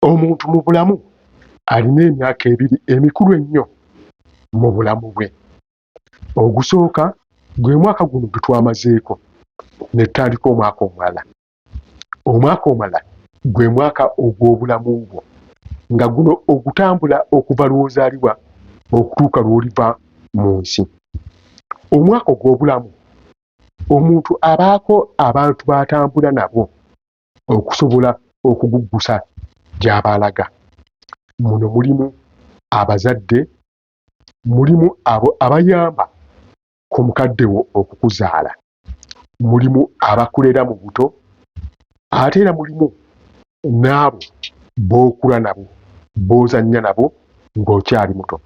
Omuntu mu bulamu alina emyaka ebiri emikulu ennyo mu bulamu bwe. Ogusooka gwe mwaka guno gwe twamazeeko ne tutandika omwaka omulala. Omwaka omulala gwe mwaka ogw'obulamu bwo nga guno ogutambula okuva lw'ozaalibwa okutuuka lw'oliva mu nsi. Omwaka ogw'obulamu omuntu abaako abantu b'atambula nabo okusobola okuguggusa gy'aba alaga. Muno mulimu abazadde, mulimu abo abayamba ku mukadde wo okukuzaala, mulimu abakulera mu buto ate era mulimu n'abo b'okula nabo, b'ozannya nabo ng'okyali muto.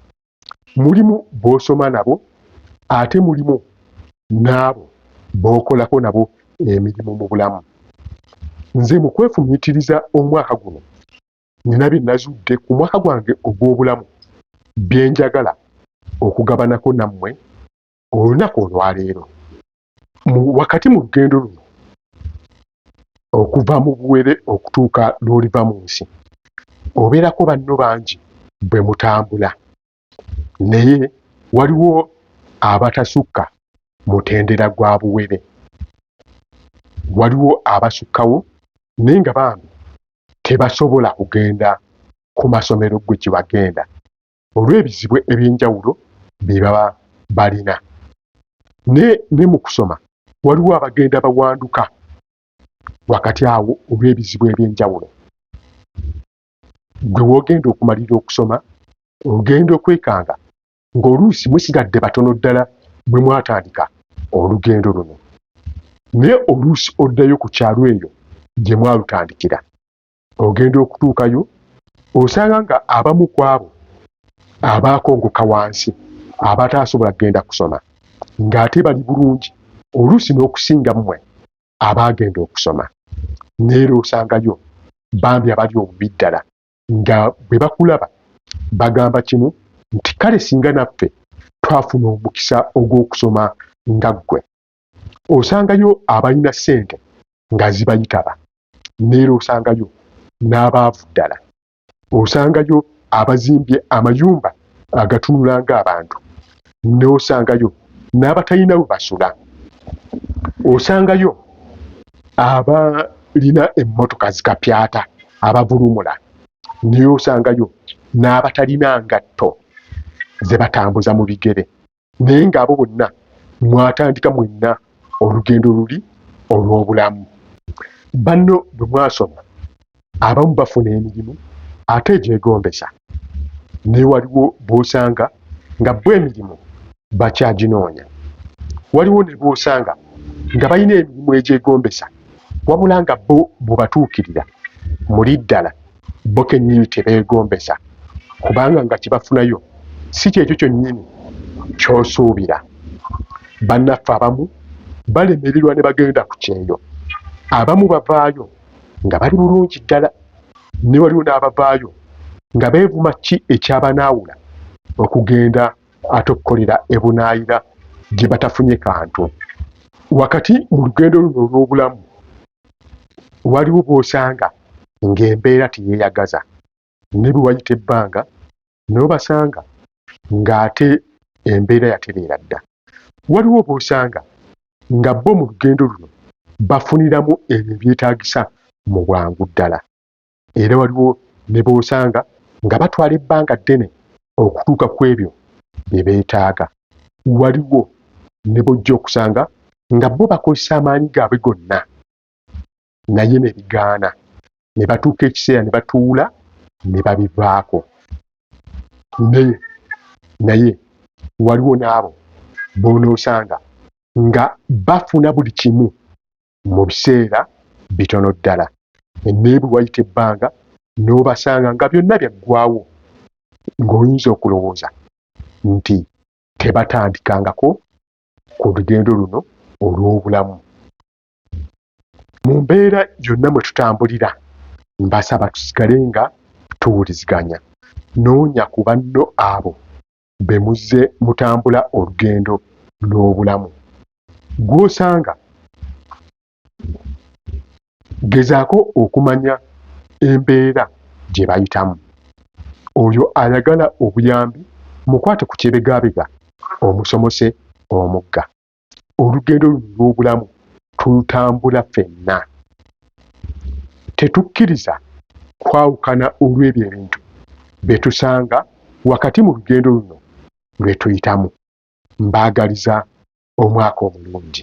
mulimu b'osoma nabo ate mulimu n'abo b'okolako nabo emirimu mu bulamu. Nze mu kwefumiitiriza omwaka guno nnina bye nazudde ku mwaka gwange ogw'obulamu bye njagala okugabanako nammwe olunaku olwaleero. wakati mu lugendo luno okuva mu buwere okutuuka lw'oliva mu nsi obeerako banno bangi bwe mutambula naye waliwo abatasukka mutendera gwa buwere waliwo abasukkawo naye nga bambi tebasobola kugenda ku masomero gwe kye wagenda olw'ebizibu eby'enjawulo bye baba balina. Naye ne mu kusoma waliwo abagenda bawanduka wakati awo olw'ebizibu eby'enjawulo. Gwe w'ogenda okumalira okusoma ogenda okwekanga ng'oluusi musigadde batono ddala bwe mwatandika olugendo luno. Naye oluusi oddayo ku kyalo eyo gye mwalutandikira ogenda okutuukayo osanga nga abamu ku abo abaakongoka wansi abataasobola kugenda kusoma ng'ate bali bulungi oluusi n'okusinga mmwe abaagenda okusoma neera osangayo bambi abali obubi ddala nga bwe bakulaba bagamba kimu nti kale singa naffe twafuna omukisa ogw'okusoma nga ggwe osangayo abalina ssente nga zibayitaba neera osangayo n'abaavu ddala osangayo abazimbye amayumba agatunula ng'abantu n'osangayo n'abatalina we basula osangayo abalina emmotoka zikapyata abavulumula naye osangayo n'abatalina ngatto ze batambuza mu bigere naye ng'abo bonna mwatandika mwenna olugendo luli olw'obulamu. Banno bwe mwasoma abamu bafuna emirimu ate egyegombesa naye waliwo b'osanga nga bo emirimu bakyaginoonya. Waliwo ne b'osanga nga balina emirimu egyegombesa wabula nga bo bw'obatuukirira muli ddala. bo kennyini kye beegombesa, kubanga nga kye bafunayo si ky'ekyo kyonnyini ky'osuubira. Bannaffe abamu balemererwa ne bagenda ku kyeyo. Abamu bavaayo nga bali bulungi ddala, ne waliwo n'abavaayo nga beevuma. Ki ekyabanaawula okugenda ate okukolera ebunaayira gye batafunye kantu? Wakati mu lugendo luno olw'obulamu, waliwo bw'osanga ng'embeera teyeeyagaza ne bwe wayita ebbanga n'obasanga ng'ate embeera yatereera dda. Waliwo b'osanga nga bo mu lugendo luno bafuniramu ebyo ebyetaagisa mu bwangu ddala. Era waliwo ne b'osanga nga batwala ebbanga ddene okutuuka ku ebyo bye beetaaga. Waliwo ne b'ojja okusanga nga bo bakozesa amaanyi gaabwe gonna naye ne bigaana, ne batuuka ekiseera ne batuula ne babivaako. Naye, naye waliwo n'abo b'onoosanga nga bafuna buli kimu mu biseera bitono ddala, naye bwe wayita ebbanga n'obasanga nga byonna byaggwaawo, ng'oyinza okulowooza nti tebatandikangako ku lugendo luno olw'obulamu. Mu mbeera yonna mwe tutambulira, mbasaba tusigale nga tuwuliziganya. Noonya ku banno abo be muzze mutambula olugendo lw'obulamu. Gw'osanga gezaako okumanya embeera gye bayitamu. Oyo ayagala obuyambi mukwate ku kyebegabega omusomose omugga. olugendo luno lw'obulamu tulutambula fenna. Tetukkiriza kwawukana olw'ebyo ebintu bye tusanga wakati mu lugendo luno lwe tuyitamu. Mbaagaliza omwaka omulungi.